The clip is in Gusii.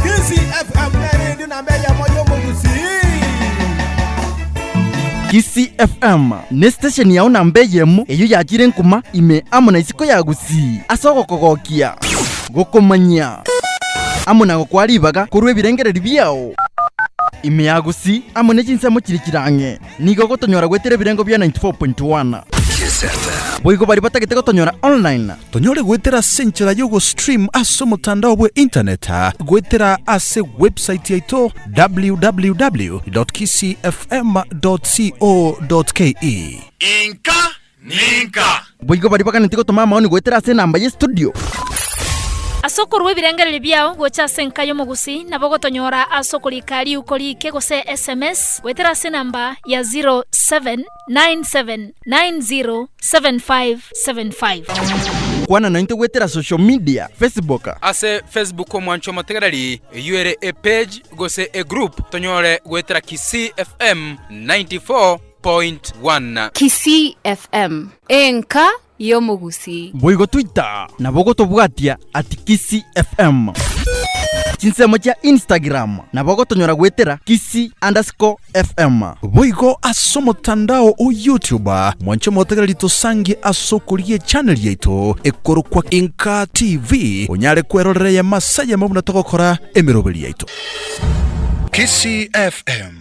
Kisii FM neredio namba eyemo y'omogusii. Kisii FM ne station yao namba eyemo eyio yachire nkuma ime amo na isiko ya Gusii ase ogokogokia, gokomanyia amo na gokwaa ribaga korwa ebirengererio biao. Ime ya Gusii amo ne chinsemo chire chirang'e. Nigo gotonyora gwetire ebirengo bia 94.1. Boigo baria batagete gotonyora online. Tonyore gwetera ase enchera y'ogostream ase omotandao bwe internet gwetera ase website yaito www.kisii-fm.co.ke. Inka ninka? Boigo baria baganetie gotoma amaoni goetera ase enamba ye studio. Ase okorua ebirengererio biao gocha ase enka y'omogusii nabo ogotonyora ase okorika riuko riike gose sms goetera ase enamba ya 0797907575. Kwana naintwe goetera social media, Facebook. Ase Facebook omwancho omotegereri eyio ere epage gose egroup tonyore goetera Kisii FM 94. 100.1. Kisii FM, enka y'omogusii. Boigo Twitter nabo gotobwatia at Kisii FM. Chinsemo chia Instagram nabo gotonyora goetera Kisii underscore FM. Boigo ase omotandao o YouTube mwanche motegereri tosangie ase okoria echaneli yaito ekorokwa Inka TV onyare kwerorera eyemo ase eyemo buna togokora emeroberi yaito. Kisii FM.